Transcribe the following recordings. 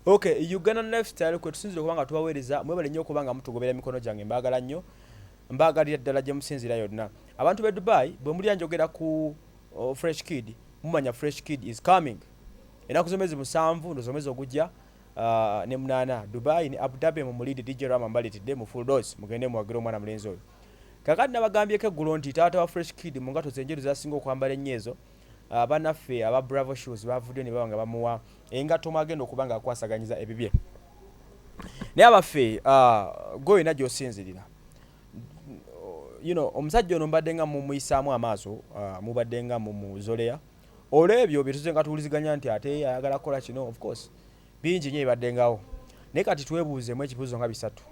okay uganda lifestyle kwetusinzira okuba nga tubaweereza mwebale nnyo okuba nga mutugobera emikono gyange mbaagala nnyo mbaagalira ddala gye musinzira yonna abantu be dubai bwe mulya njogera ku oh, fresh kid mumanya fresh kid is coming enaku zomezi musanvu ndozomezi ogujja uh, ne munana dubai ne abu dhabi mumulide dj rama mbalitidde mu full dose mugende muwagire omwana mulenzi oyo kakati nabagambyeko eggulo nti taata wa fresh kid mu ngato zenjeru zasinga okwambala ennyo ezo uh, banaffe aba bravo shoes bavuddeyo ne baba nga bamuwa engatto mwagenda okuba nga akwasaganyiza ebibye naye abaffe uh, goyina gyosinzirira you know omusajja ono mbadde nga mumuyisaamu amaaso uh, mubadde nga mumuzoleya Olwebyo byetuze nga tuwuliziganya nti ate ayagala kukola kino of course bingi nyo ebibaddengawo naye kati twebuuzemu ekibuzo nga bisatu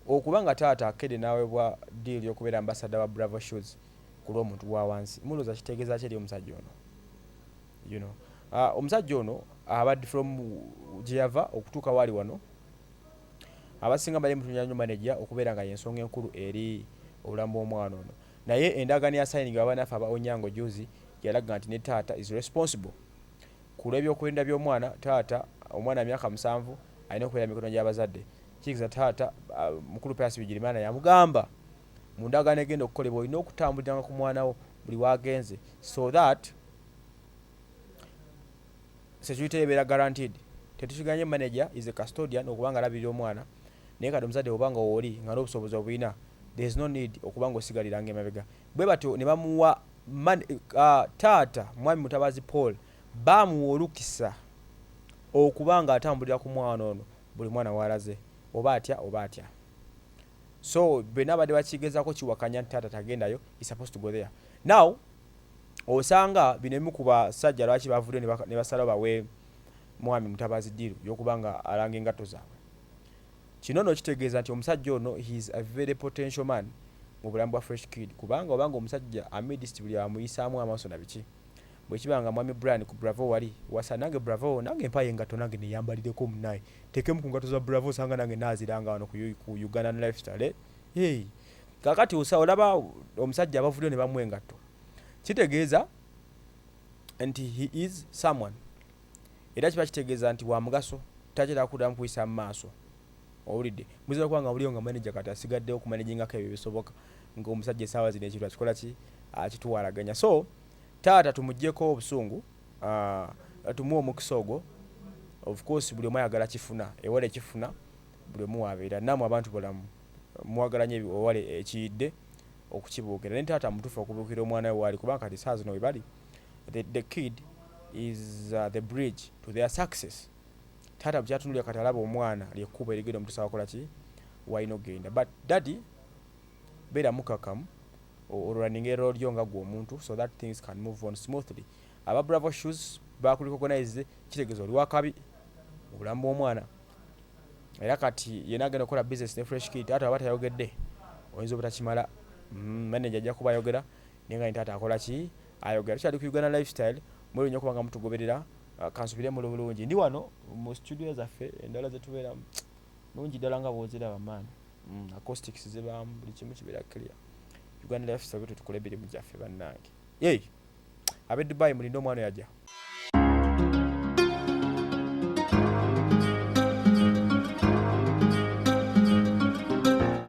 okuba nga taata akede nawebwa deal yokubera ambassador wa bravo shoes kulwomuntu wawansi muloza kitegezaki eri omusajja ono you know uh, omusajja ono abad from jeyava okutuuka wali wano abasinga bali mutunya nyo manager okubeera nga yensonga enkulu eri obulamu bwomwana ono Naye endagaano eyasayinigibwa banaffe aba Onyango juuzi yalaga nti ne taata is responsible ku lw'ebyokwerinda by'omwana. Taata, omwana wa myaka musanvu alina okubeera mu mikono gy'abazadde. Kitegeeza taata, Mukulu Pius Bigirimana yamugamba, mu ndagaano egenda okukolebwa olina okutambuliranga ku mwana wo buli w'agenze so that. security ye ebeera guaranteed tetukiganye manager is a custodian okuba nga alabirira omwana naye kati omuzadde oba nga wooli nga n'obusobozi obulina there is no need okuba nga osigaliranga emabega bwe batyo ne bamuwa man, uh, taata mwami mutabazi paul baamuwa olukisa okuba nga atambulira ku mwana ono buli mwana waalaze oba atya oba atya so bena abadde bakigezako kiwakanya nti taata tagendayo is supposed to go there now osanga bino ebimu ku basajja lwaki bavuddeyo ne ba, ne basalawo bawe Mwami Mutabazi ddiiru y'okuba nga alanga engatto zaabwe. Kino nno kitegeeza nti omusajja ono he is a very potential man mu bulamu bwa Fresh Kid kubanga oba nga omusajja amidst buli amuyisaamu amaaso na biki. Bwe kiba nga Mwami Brian ku Bravo wali, wasa nange Bravo, nange mpaayo engatto nange neyambalireko munnaaye, nteekemu ku ngatto za Bravo osanga nange naaziranga wano ku Ugandan Lifestyle, eh, hey. kakati osa olaba omusajja abavuddeyo ne bamuwa engatto kitegeeza nti he is someone era kiba kitegeeza nti wa mugaso takyera kuddamu kuyisa mu maaso owulidde muzira kuba nga buliyo nga manaja kati asigaddewo okumanejingako ebyo bisoboka ngaomusajja esaawa zino ekintu akikola ki akituwalaganya so taata tumugyeko obusungu ah, tumuwa omukisa ogwo of course buli omu ayagala kifuna ewala ekifuna buli omu wabeera namwe abantu bulamu mwagala nyo ewali ekiyidde okukibuukira naye taata mutufu okubuukira omwana we waali kubanga kati saa zino webali the, the kid is uh, the bridge to their success taata bukyatunulira kati alaba omwana lyekkubo erigenda omutusa wakola ki walina okugenda but daddy beera mukakamu olulaninga erolo lyo nga gwe omuntu so that things can move on smoothly aba bravo shoes bakulikogonize kitegeeza oli wakabi obulamu bw'omwana era kati yena agenda okukola business ne fresh kid taata waba tayogedde oyinza obutakimala mm, manager ajja kuba ayogera naye nga taata akola ki ayogera tukyali ku uganda lifestyle mwebyo nyo kubanga mutugoberera ah, kansubire muli bulungi ndi wano mu studio zaffe endala zetubeeramu nungi ddala nga bwoziraba maani mm, acoustics zibaamu buli kimu kibeera clear uganda lifestyle bwetutukola ebirimu gyaffe bannange yey abe dubai mulinde omwana oyo aja